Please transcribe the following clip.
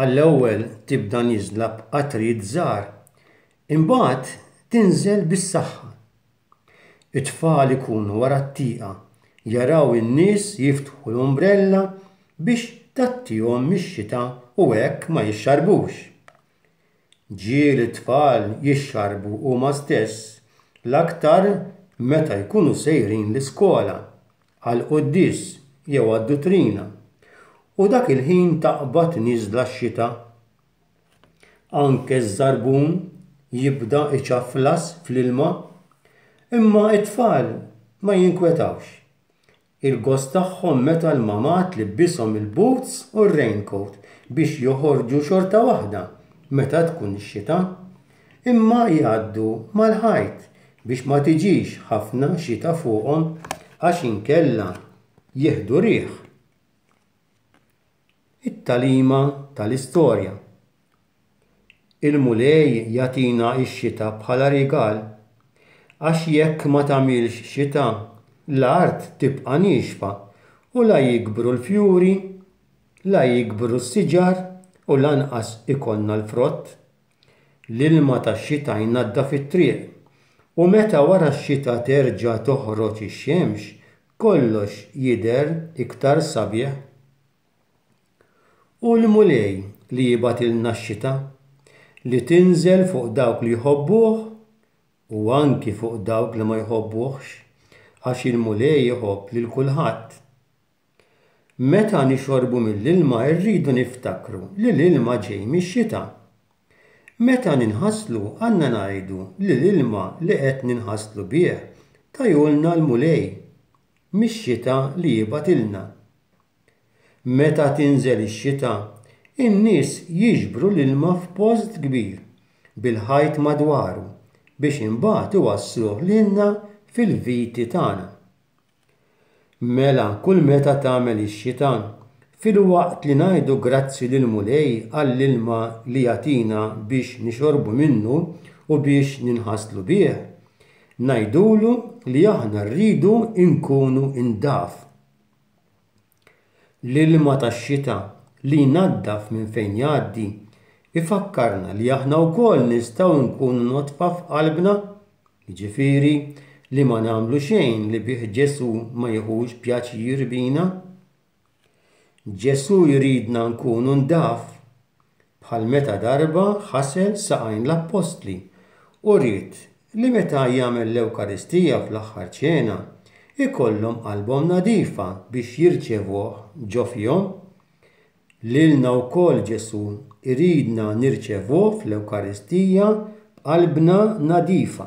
Għall-ewwel tibda nieżla b'qatrijiet żgħar, imbagħad tinżel bis-saħħa. It-tfal ikunu wara t-tieqa, jaraw in-nies jiftħu l-umbrella biex tgħattihom mix-xita u hekk ma jixxarbux. Ġieli t-tfal jixxarrbu huma stess, l-aktar meta jkunu sejrin l-iskola, għall-quddies jew għad-duttrina, u dak il-ħin taqbad nieżla x-xita. Anke ż-żarbun jibda iċafflas fl-ilma. Imma t-tfal ma jinkwetawx. Il-gost tagħhom meta l-mamad tlibbishom il-boots u r-raincoat biex joħorġu xorta waħda meta tkun ix-xita. Imma jgħaddu mal-ħajt biex ma tiġix ħafna xita fuqhom għax inkella jieħdu riħ. It-tagħlima tal-istorja. Il-Mulej jagħtina x-xita bħala rigal, għax jekk ma tagħmilx xita, l-art tibqa' niexfa u la jikbru l-fjuri, la jikbru s-siġar u lanqas ikollna l-frott. L-ilma tax-xita jnaddaf it-triq, u meta wara x-xita terġa' toħroġ ix-xemx, Kollox jidher iktar sabiħ. Hu l-Mulej li jibgħatilna x-xita, li tinżel fuq dawk li jħobbuh u anki fuq dawk li ma jħobbuhx, għax il-Mulej iħobb lil kulħadd. Meta nixorbu mill-ilma rridu niftakru li l-ilma ġej mix-xita. Meta ninħaslu għandna ngħidu li l-ilma li qed ninħaslu bih tajulna l-Mulej mix-xita li jibgħatilna. Meta tinżel ix-xita, in-nies jiġbru l-ilma f'post kbir bil-ħajt madwaru biex imbagħad iwassluh lilna fil-viti tagħna. Mela kull meta tagħmel ix-xita, filwaqt li ngħidu grazzi lill-Mulej għall-ilma li jagħtina biex nixorbu minnu u biex ninħaslu bih, ngħidulu li aħna rridu nkunu ndaf. L-ilma tax-xita li jnaddaf minn fejn jgħaddi jfakkarna li aħna wkoll nistgħu nkunu nodfa f'qalbna, jiġifieri li ma nagħmlu xejn li bih Ġesù ma jiħux pjaċir bina. Ġesù jridna nkunu ndaf, bħal meta darba ħasel saqajn l-appostli u ried li meta jagħmel l-Ewkaristija fl-Aħħar Ċena, ikollhom qalbhom nadifa biex jirċevuh ġo fihom. Lilna wkoll Ġesù jridna nirċevuh fl-Ewkaristija b'qalbna nadifa.